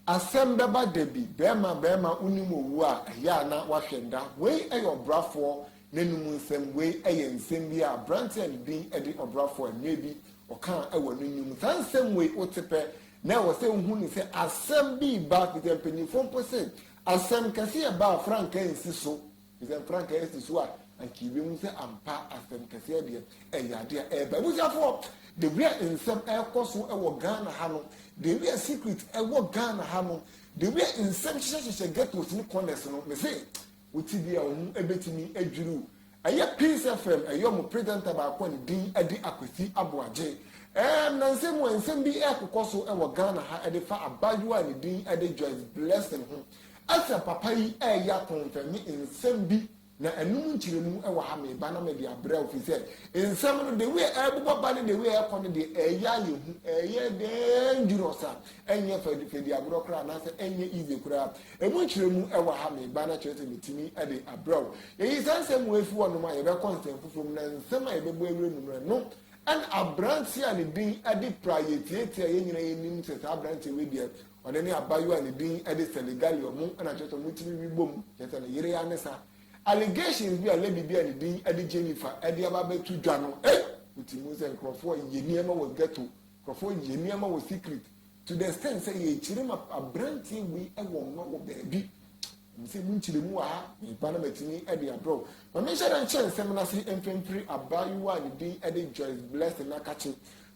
Asɛm bɛba da bi, bɛɛma bɛɛma wonim owu a, ɛyɛ a na wahwɛ nda. Wei yɛ ɔbrafoɔ n'anum nsɛm, wei yɛ nsɛm bi a abranteɛ a ne din de ɔbrafoɔ mmerɛ bi ɔkaa wɔ ne nnwom mu. Saa nsɛm wei wote pɛ na ɛwɔ sɛ wohu no sɛ asɛm bi reba, firi sɛ mpanyinfoɔ mpo se asɛm kɛse yɛ ba a frankaa nsi so. Te sɛ frankaa asi so a, anka yebehu sɛ ampa asɛm kɛseɛ deɛ ɛyɛ adeɛ a ɛreba. Abusuafoɔ, de bi a nsɛm ɛrekɔ so wɔ Ghana ha no, de bi a secret ɛwɔ Ghana ha no, de bi a nsɛm hyehyɛhyehyɛ ghettos ne corners no, me se, wote bi a wɔn ɛbɛtumi adwiriw. Ɛyɛ Peace FM, ɛyɛ wɔn presenter baako a ne din ɛde Akwasi Aboagye. Ɛɛ, mmerɛnsɛm mu a nsɛm bi ɛrekokɔ so wɔ Ghana ha ɛde fa abaayewa a ne din ɛde Joyce Blessing ho. Asɛm papa yi reyɛ akɔmfɛ ne nsɛm bi na ɛnom nkyerɛmu wɔ ha meba na mede abrɛ wo fisɛ nsɛm no the way ɛrebobɔ ba ne the way ɛrekɔ no deɛ ɛyɛ ayɛ hu ɛyɛ dangerous a ɛnyɛ fɛdi agorɔ koraa anaasɛ ɛnyɛ easy koraa ɛmu nkyerɛmu wɔ ha meba na kyerɛ sɛ metumi de abrɛ wo yɛyi saa nsɛm wɔ afi hɔ nom a yɛbɛkɔ nsɛm foforɔ mu na nsɛm a yɛbɛbɔ awura mu no no ɛna aberanteɛ a ne din de pra yɛtiatia yɛn nyina yɛnim sɛ saa aberanteɛ wei deɛ Ɔno ne abayewa a ne din de Seligalia, ɔmo na kyerɛ sɛ ɔmo tiri wi bom, kyerɛ sɛ ne yere ya ne saa. Allegations bi a lady bi a ne din de Jennifer de aba abɛto dwa no, ei! Wote mu sɛ nkorɔfoɔ yɛ nneɛma wɔ ghetto, nkorɔfoɔ yɛ nneɛma wɔ secret to the extent sɛ yɛkyerɛ ma abranteɛ wei wɔ mma wɔ baabi. Ɛmu sɛ mu nkyerɛ mu wɔ ha, meba na matumi de abrɛ wo. Ma menhyɛ dɛ nkyɛ nsɛm no ase mfempere abaayewa a ne din de Joyce Blessing Nakakye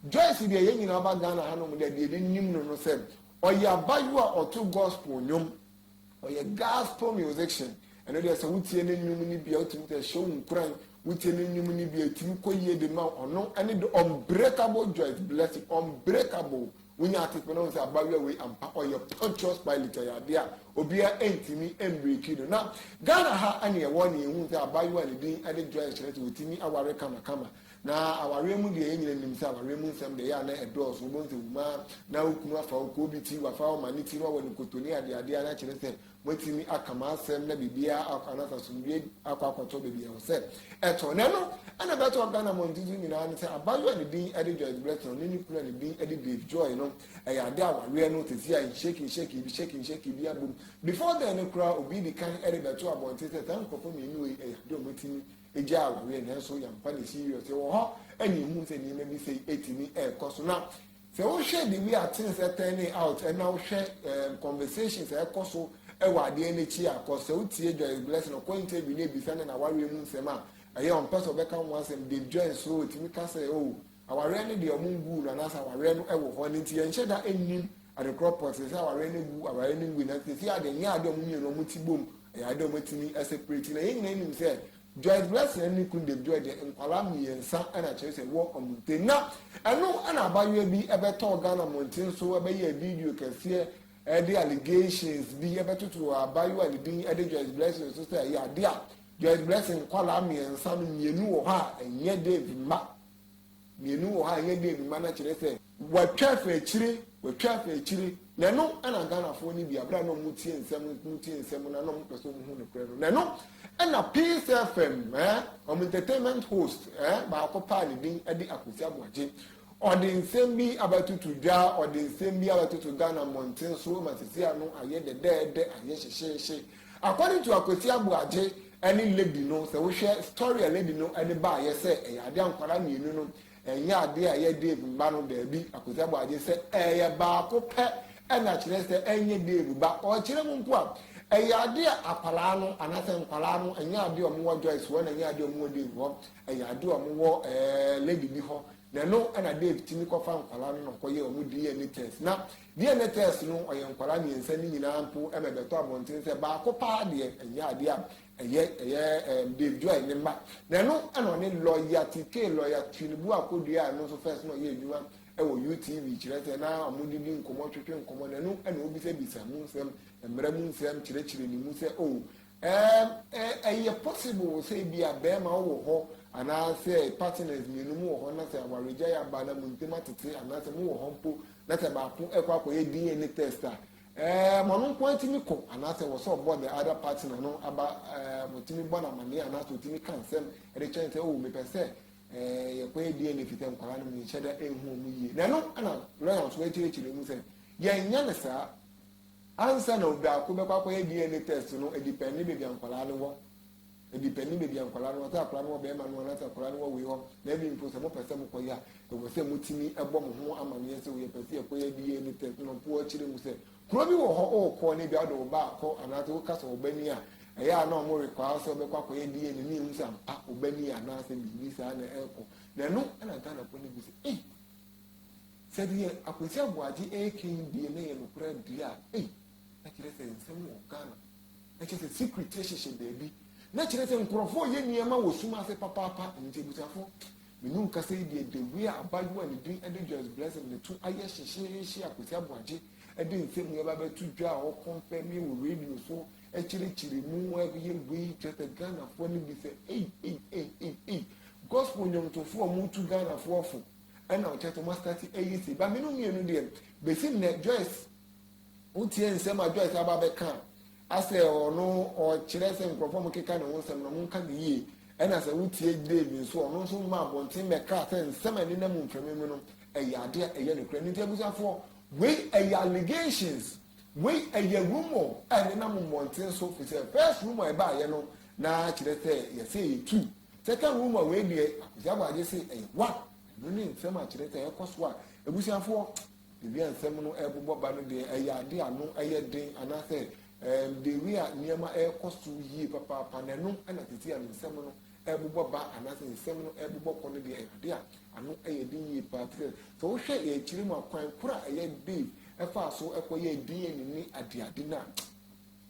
Joyce deɛ yɛn nyinaa ba Ghana ha nom deɛ deɛ yɛn nim no no sɛ ɔyɛ abayewa a ɔto gospel nnwom ɔyɛ gospel musician ɛno deɛ sɛ wotie ne nnwom no bi a wotumi sɛ ɛhyɛ wo nkuran wotie ne nnwom no bi a ɛtumi kɔ yie de ma ɔno ɛne the unbreakable Joyce blessing unbreakable wonya atetena ho sɛ abayewa wei ampa ɔyɛ pontius pilate ɛyɛ adeɛ a obiara ɛntumi ɛmbreki no na ghana ha ɛne ɛwɔ ne ɛhu sɛ abayewa ne din ɛde joy nhyerɛ sɛ wɔtumi aware kamakama Na awareɛ mu deɛ, yɛn nyina nim sɛ awareɛ mu nsɛm deɛ, ɛyɛ a na ɛdɔɔso. Wobɛhu sɛ wuma a, na wo kunu afa wo kɔ obi ti, wafa wo ma ne ti, na wawɔ ne koto ne adeadeɛ a, na kyerɛ sɛ, moatumi aka mo asɛm na biribiara akɔ anasa asomdwoeɛ akɔ akɔtɔ baabi a ɛwɔ sɛ ɛtɔ. Na ɛno na ɛbɛtɔɔ Ghana mmɔnten so nyinaa ne sɛ, abaayewa a ne din de Joyce Blessing, ɔne ne kunu a ne din de Dave Joy no, ɛyɛ adeɛ a awareɛ no sɛsi a nhyɛki nhyɛki bi, hyɛki nhyɛki bi abom. Before then no koraa, obi di kan rebɛto abɔnten sɛ saa nkurɔfoɔ mmienu wei, ɛyɛ adeɛ a wɔatumi gyaa agoyɛ nanso yɛamfa no serious. Yɛwɔ hɔ na yɛhu sɛ nneɛma bi sɛ ɛtumi ɛrekɔ so. Na sɛ wohwɛ the way a things turning out ɛna wohwɛ um, conversations a ɛkɔ so ɛwɔ adeɛ no akyi a kɔ sɛ wotie Joyce Blessing ɔkɔ interview no ebisa ne na wareɛ mu nsɛm a ɛyɛ ɔmpɛ sɛ ɔbɛka ho asɛm Dave Jones so ɔtumi ka sɛ o oh, Awareɛ no deɛ ɔmo nguu no anaasɛ awareɛ no ɛwɔ hɔ ɛno nti yɛn nhyɛ da nnim adekorɔ pɔtee sɛ awareɛ no agu awareɛ no ngui nanso sɛsi adeɛ nyɛ adeɛ ɔmo mmienu ɔmo ti bom ɛyɛ adeɛ ɔmo atumi ɛsɛprɛti na yɛn nyinaa nim sɛ Joyce Blessing ɛne ne kunu Dave Joy deɛ nkwadaa mmiɛnsa ɛna kyerɛ sɛ ɛwɔ ɔmo ntem na ɛno ɛna abayewa bi ɛbɛtɔɔ Ghana mmɔnten so ɛbɛyɛɛ video kɛseɛ ɛde allegations bi ɛbɛtoto abayewa ne din ɛde Joyce Blessing so sɛ ɛyɛ adeɛ a Joyce Blessing nkwadaa mmiɛnsa no mmienu wɔ hɔ a ɛnyɛ Dave mma. mmienu wɔ ha a ɛyɛ dɛ bi ma no kyerɛ sɛ wɔatwa afiri akyire wɔatwa afiri akyire na ɛno ɛna ghanafoɔ no bi abira na wɔn tie nsɛm wɔn tie nsɛm na na wɔn pɛ so wɔn hu ne korɛ no na ɛno ɛna peace fm ɛɛ eh, wɔn entertainment host ɛɛ eh, baako paa ne din ɛde akosi aboagye ɔde nsɛm bi abɛtoto dwa ɔde nsɛm bi abɛtoto ghana mmɔnten so ma sisi ano ayɛ dɛdɛɛdɛ ayɛ hyehyeehye According to Akwasi Aboagye ɛne lady no sɛ wohwɛ story a lady no ɛde baayɛ sɛ ɛyɛ adeɛ a nkwadaa mmienu no ɛnyɛ adeɛ a ɛyɛ Dave mma no daabi Akwasi Aboagye sɛ ɛyɛ baako pɛ ɛna kyerɛ sɛ ɛnyɛ Dave ba ɔkyerɛ mu mpo a ɛyɛ adeɛ a akwadaa no anaasɛ nkwadaa no ɛnyɛ adeɛ a wɔwɔ Joyce hɔ na ɛnyɛ adeɛ a wɔwɔ Dave hɔ ɛyɛ adeɛ a wɔwɔ ɛɛ lady bi hɔ na ɛno ɛna Dave tumi kɔfa nkwadaa no na ɔkɔyɛ wɔn DNA test na Deɛ ne test no ɔyɛ nkwadaa mmiɛnsa ne nyinaa mpo ma ɛbɛtɔ abɔnten sɛ baako paa deɛ ɛnyɛ adeɛ a ɛyɛ ɛyɛ ɛɛm Dave Joy ne mma na ɛno ɛna ɔne lɔya TK lɔya Tinubu akɔdua a ɛno nso first na ɔyɛ adwuma ɛwɔ UTV kyerɛ sɛ na wɔn didi nkɔmɔ twetwe nkɔmɔ na ɛno ɛna ɔbisabisa mu nsɛm mmara mu nsɛm kyerɛkyerɛ ne mu sɛ oh Ɛɛm, ɛ, ɛyɛ possible sɛ ebia bɛɛma ɔwɔ hɔ anaasɛ partners mmienu mo wɔ hɔ na sɛ awaregyae aba na mo ntem atete anaasɛ mo wɔ hɔ mpo na sɛ baako ɛkɔ akɔyɛ DNA test a, ɛɛm, ɔno nko ara tumi kɔ anaasɛ wɔ sɛ ɔbɔ the other partner no aba, ɛɛm, ɔtumi bɔ no amaneɛ anaasɛ ɔtumi ka nsɛm ɛde kyɛn sɛ o oh, mepɛ sɛ ɛɛ yɛkɔyɛ DNA firi sɛ nkwadaa no menhyɛ da ɛnhu ɔmo yie. Na ɛno ɛna lɔya nso akyerɛkyerɛ mu sɛ yɛnyɛ no saa Ansa na obiako bɛkɔ akɔyɛ DNA test no, ɛdipɛnde baabi a nkwadaa no wɔ. Ɛdipɛnde baabi a nkwadaa no wɔ. Sɛ akwadaa no wɔ bɛrima no hɔ anaasɛ akwadaa no wɔ wei hɔ, na ɛbi mpo sɛ mopɛ sɛ mokɔyɛ a, ɛwɔ sɛ motumi bɔ mo ho amanneɛ sɛ o yɛpɛ sɛ yɛkɔyɛ DNA test na ɔpo akyerɛ mu sɛ kuro bi wɔ hɔ ɔrekɔ na ebia ɔde wo ba akɔ anaasɛ woka sɛ ɔba ni a ɛyɛ a na wɔn rekwaa sɛ ɔbɛkɔ akɔyɛ DNA ne ehu sɛ ampa ɔba ni anaasɛ biribi saa na ɛrekɔ na ɛno ɛna Ghana kɔ ne bi sɛ eh Sɛ deɛ Akwasi Aboagye reka yi deɛ na ɛyɛ nokorɛ deɛ a, ei, na kyerɛ sɛ nsɛm wɔ Ghana. Na kyerɛ sɛ secret hyehyɛ baabi. Na kyerɛ sɛ nkorɔfoɔ reyɛ nneɛma wɔ sum ase papaapa. Ɛno nti abusuafoɔ, me ne wo kasa yi deɛ, the way a abaayewa a ne din de Joyce Blessing ne to ayɛ hyehyeehye Akwasi Aboagye de nsɛm yi aba abɛto dwa a ɔkɔnfɛme wɔ radio so, ɛkyerɛkyerɛ mu, ɛyɛ wei, kyerɛ sɛ Ghanafoɔ no bi sɛ ei, ei, ei, ei, ei, gospel nnwomtofoɔ a wɔtu Ghanafoɔ fo. ɛna ɔkyerɛ sɛ wɔasitati ayi se ba mene mmienu deɛ bɛsi nnɛ joyce wotie nsɛm a joyce aba bɛka asɛ ɔno ɔkyerɛ sɛ nkurɔfoɔ mo keka ne ho nsɛm no monka ne yie ɛna sɛ wotie dave nso ɔno nso ma abɔnten bɛka sɛ nsɛm a ɛne na mu mfrɛmi mu no ɛyɛ adeɛ a ɛyɛ nokorɛ ne nti abusuafoɔ wei ɛyɛ allegations wei ɛyɛ rumor a ɛne na mu mmɔnten so fi sɛ first rumor a ɛbaayɛ no na kyerɛ sɛ yɛsɛ yɛtu Kɛkɛ wo mu a wei deɛ Akwasi Abɔ agye se ɛyɛ wa ɛno ne nsɛm a kyerɛ sɛ ɛkɔ so a abusuafoɔ ebi a nsɛm no ɛbobɔ ba no deɛ ɛyɛ ade a no ɛyɛ den anaasɛ ɛɛm de wi a nneɛma ɛkɔ so yie papaapa na ɛno ɛna tete a no nsɛm no ɛbobɔ ba anaasɛ nsɛm no ɛbobɔ kɔ no deɛ ɛyɛ ade a ano ɛyɛ den yie paa te sɛ sɛ wohwɛ yɛ akyire mu akwan koro a ɛyɛ Dave ɛfaa so ɛkɔ yɛ din yɛ ne ne adeade no a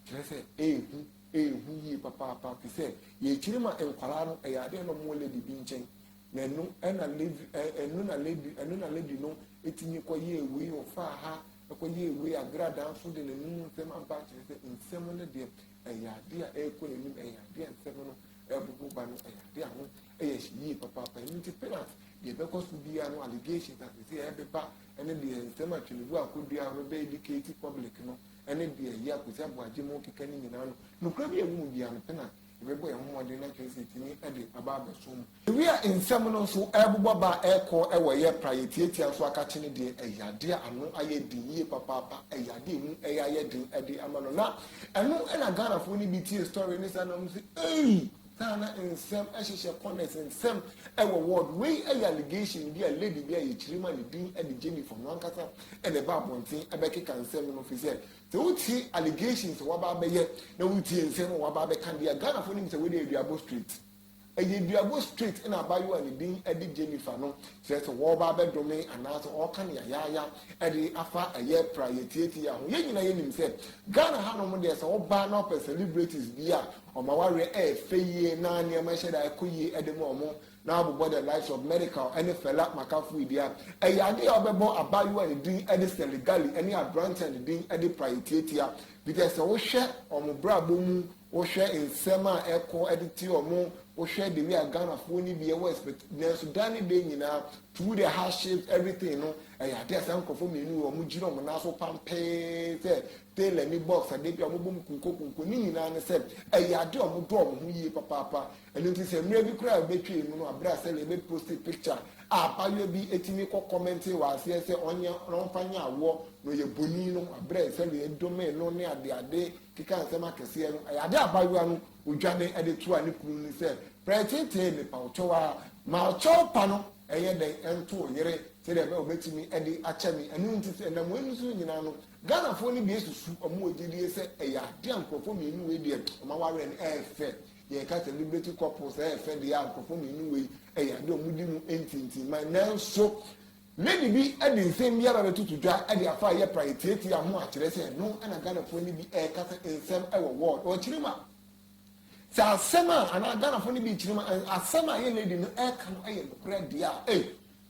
kyerɛ sɛ ɛɛhu ɛyɛ hu yie papaapa te sɛ yɛn akyiri ma nkwadaa no ɛyɛ adeɛ na wɔn lady bi nkyɛn na ɛno ɛna lady ɛno na lady ɛno na lady no ɛtumi kɔ yɛ ewei ɔfa ha ɛkɔ yɛ ewei agradaa nso de n'anum nsɛm aba akyerɛ sɛ nsɛm no deɛ ɛyɛ adeɛ a ɛrekɔ n'anim ɛyɛ adeɛ a nsɛm no ɛbobɔ ba no ɛyɛ adeɛ a ho ɛyɛ hyɛ yie papaapa ɛno nti penat deɛ ɛbɛkɔ so biara no allegations asese ɛbɛba ɛne deɛ nsɛm atwene bu akɔdua a wɔbɛbɛ educate public no ɛne deɛ ɛyɛ akosi aboagye mu keka no nyinaa no nokorɛ bi a ɛwɔ mu biara no pɛ na yɛbɛbɔ yɛn ho mmɔden na kyerɛ sɛ ɛtumi de aba abɛso mu ewi a nsɛm no nso ɛrebobɔ ba a ɛrekɔ ɛwɔ yɛ pra yɛ tiatia nso akakye no deɛ ɛyɛ adeɛ a ano ayɛ den yie papaapa ɛyɛ adeɛ a ɛmu ɛyɛ ayɛ den ɛde ama no na ɛno ɛna Ghanafoɔ no bi tie story ne saa na wɔn sɛ ei Ghana nsɛm hyehyɛ kɔnɛs nsɛm wɔ ward. Wei yɛ allegation bi a lady bi a yɛkyerɛ mu a ne din de Jennifer ɔno ankasa na ɛba abɔnten bɛkeka nsɛm no firi sɛ sɛ wotie allegations a waba abɛyɛ na wotie nsɛm a waba abɛka deɛ Ghanafoɔ nim sɛ wei deɛ aduabɔ straight ɛyɛ duabɔ straight na abayewa a ne din de Jennifer no kyerɛ sɛ wɔba abɛdome anaasɛ ɔreka ne yayaaya de afa ɛyɛ pra yɛtiatia ho yɛn nyinaa yɛnim sɛ Ghana hanom deɛ sɛ ɔbaa na ɔpɛ celebrities bi a Wɔn awareɛ yɛ fɛ yie na nneɛma hyɛ da kɔ yie de ma wɔn na abobɔ The Lives of Medical ne Fela Makafuyi dea ɛyɛ adeɛ a wɔbɛbɔ abaayewa a ne din de Sally Gali ne aberanteɛ a ne din de Praye Tiatia Peter sɛ wohwɛ wɔn brabɔ mu, wohwɛ nsɛm a ɛkɔ de te wɔn, wohwɛ the way a Ghanafoɔ no bi ɛwɔ expect nanso da ne da nyinaa through the hardships everything no ɛyɛ adeɛ a saa nkurɔfoɔ mmienu wɔn gyina wɔn nan so pampee sɛ Taylor ne Box a da bi a wɔbom kunkokunko ne nyinaa ne sɛ ɛyɛ ade a wɔdɔ wɔn ho yie papaapa. Ɛno nti sɛ mmerɛ bi koraa bɛtwee mu no a, berɛ a sɛdeɛ yɛbɛ posti picture a abaayewa bi tumi kɔ kɔmɛntee wɔ aseɛ sɛ ɔnyɛ na ɔmfa nyɛ awoɔ na ɔyɛ bonin no, berɛ sɛdeɛ ɛdomee no ne adeade kekaa nsɛm akɛseɛ no, ɛyɛ ade a abaayewa no ɔdwane de toaa ne kunu no ne sɛ, Prɛtee-tee mepa wo kyɛw ara, ma ɔkyɛw pa no nyɛ dɛn nto wo yere sɛdeɛ ɛbɛyɛ a ɔbɛtumi de akyɛ me. Ɛno nti sɛ ɛnam wei no so nyinaa no, Ghanafoɔ no bi susu wɔn agyedie sɛ ɛyɛ adeɛ a nkorɔfoɔ mmienu wei deɛ wɔn awareɛ no ɛyɛ fɛ yɛn ka celebrity couples ɛyɛ fɛ deɛ a nkorɔfoɔ mmienu wei ɛyɛ adeɛ a wɔn di mu ntintinman nanso lady bi ɛde nsɛm bi aba bɛtutu dwa ɛde afa yɛ pra etiatia ho akyerɛ sɛ ɛno ɛna Ghanafoɔ no bi ɛka sɛ nsɛm ɛwɔ wɔɔd ɔkyerɛ mu a sɛ asɛm a anaa Ghanafoɔ no bi kyerɛ mu asɛm a yɛ lady no ɛka no ɛyɛ nokorɛ deɛ a ɛyɛ.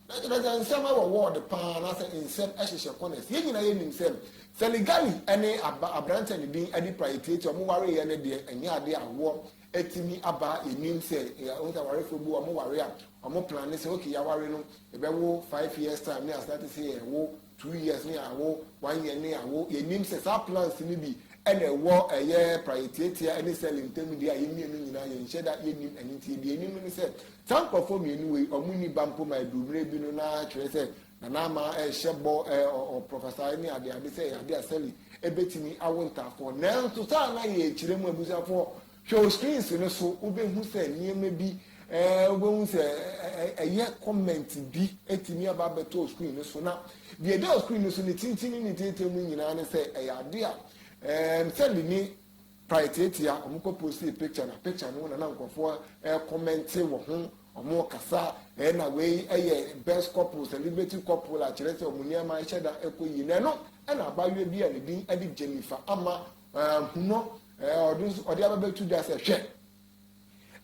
Na kyerɛ sɛ nsɛm wɔ ward paa anaasɛ nsɛm hyehyɛ corners. Yɛn nyinaa yɛ nim sɛ Seligali ne aberante a ne din adi pra etiatia wɔn wareeɛ no deɛ ɛnyɛ adeɛ a wɔ atumi aba yɛn nim sɛ wɔn sɛ awarefoɔ bi wɔn ware a wɔn plan ne sɛ okay yɛaware no yɛbɛwo five years time ne asate sɛ yɛwo two years ne awo one year ne awo yɛnim sɛ saa plans no bi ɛna ɛwɔ ɛyɛ prayɛtiatia ɛne sɛle ntam deɛ a yɛn mmienu nyinaa yɛn hyɛ da yɛnim ɛne nti deɛ yɛnim ne sɛ saa nkurɔfoɔ mmienu wei ɔmo ni ba mpo ma ɛduru mmerɛ bi no na kyerɛ sɛ nana ama ɛhyɛ bɔ ɔprɔfɛsa ne adeade sɛ ɛyɛ ade a sɛle ɛbɛtumi awo ntaafoɔ nanso saa na yɛkyerɛ mu abusuafoɔ Hwɛ wo screens no so, wobɛhu sɛ nneɛma bi, eh, wobɛhu sɛ ɛyɛ comment bi atumi aba abɛtɔ wo screen no so. Na deɛ ɛda wo screen no so ne tenten ne ne tenten mu nyinaa ne sɛ ɛyɛ ade a, eh, sɛde ne pae tiatia, wɔn kɔ postee picture na picture no na na nkurɔfoɔ ɛrekɔmɛnte eh, wɔ ho, wɔn kasa, eh, na wei ɛyɛ best couple, celebrity couple a kyerɛ sɛ wɔn nneɛma ɛhyɛ da ɛkɔ yie. Na ɛno ɛna abaayewa bi a ne din ɛde Jennifer ama Hu no, ɔde nso ɔde aba bɛtu da sɛ hwɛ.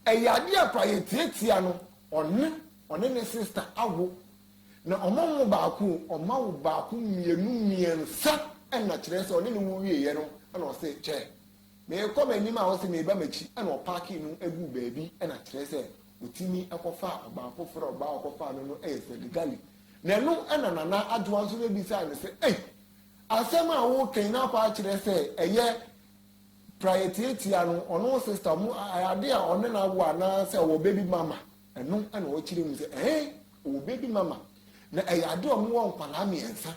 Ɛyɛ adeɛ a kora yɛtiatia no ɔne ɔne ne sista awo na ɔma wo baako ɔma wo baako mmienu mmiɛnsa ɛna kyerɛ sɛ ɔne ne wo wieɛ no ɛna ɔse kyɛ meekɔ m'anim a ɔse meeba m'akyi ɛna ɔpaake no agu baabi ɛna kyerɛ sɛ ɔtumi ɛkɔfa ɔbaa foforɔ ɔbaa ɔkɔfa no no ɛyɛ sɛ legali na ɛno ɛna nana adwoa nso no bisa no sɛ ei Asɛm a wokan na akɔ akyerɛ sɛ ɛyɛ praeɛ tiatia no, ɔno sista mu ade a ɔne no awo anaasɛ ɔwɔ baby mama, ɛno na ɔkyerɛ mu sɛ ɛhe ɔwɔ baby mama. Na ɛyɛ ade a ɔmo wɔ nkwadaa mmiɛnsa.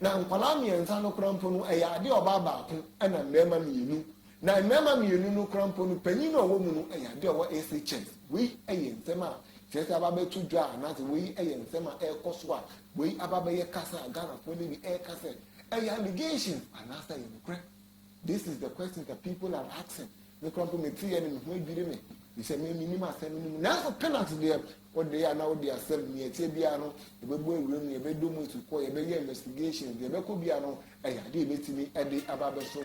Na nkwadaa mmiɛnsa no koraa mpo no ɛyɛ ade a ɔbaa baako ɛna mmarima mmienu. Na mmarima mmienu no koraa mpo no panyin a ɔwɔ mu no ɛyɛ ade a ɔwɔ SHS. Wei ɛyɛ nsɛm a kyerɛ sɛ aba abɛto dwa anaasɛ wei ɛyɛ nsɛm a ɛrekɔ so a Wei aba bɛyɛ kasa a Ghanafoɔ ne bi ɛreka sɛ ɛyɛ allegation anaasɛ ɛyɛ nokorɛ? This is the question that people are asking. Me kora mpo mete yɛ ne me ho adwiri me bisɛ me menim asɛm no mu nanso penalty deɛ wode yɛ anaa wode asɛm nea ɛteɛ biara no yɛbɛbɔ awuram no yɛbɛdɔ mu asukɔ yɛbɛyɛ investigation deɛ ɛbɛkɔ biara no ɛyɛ adeɛ yɛbɛtumi ɛde aba bɛso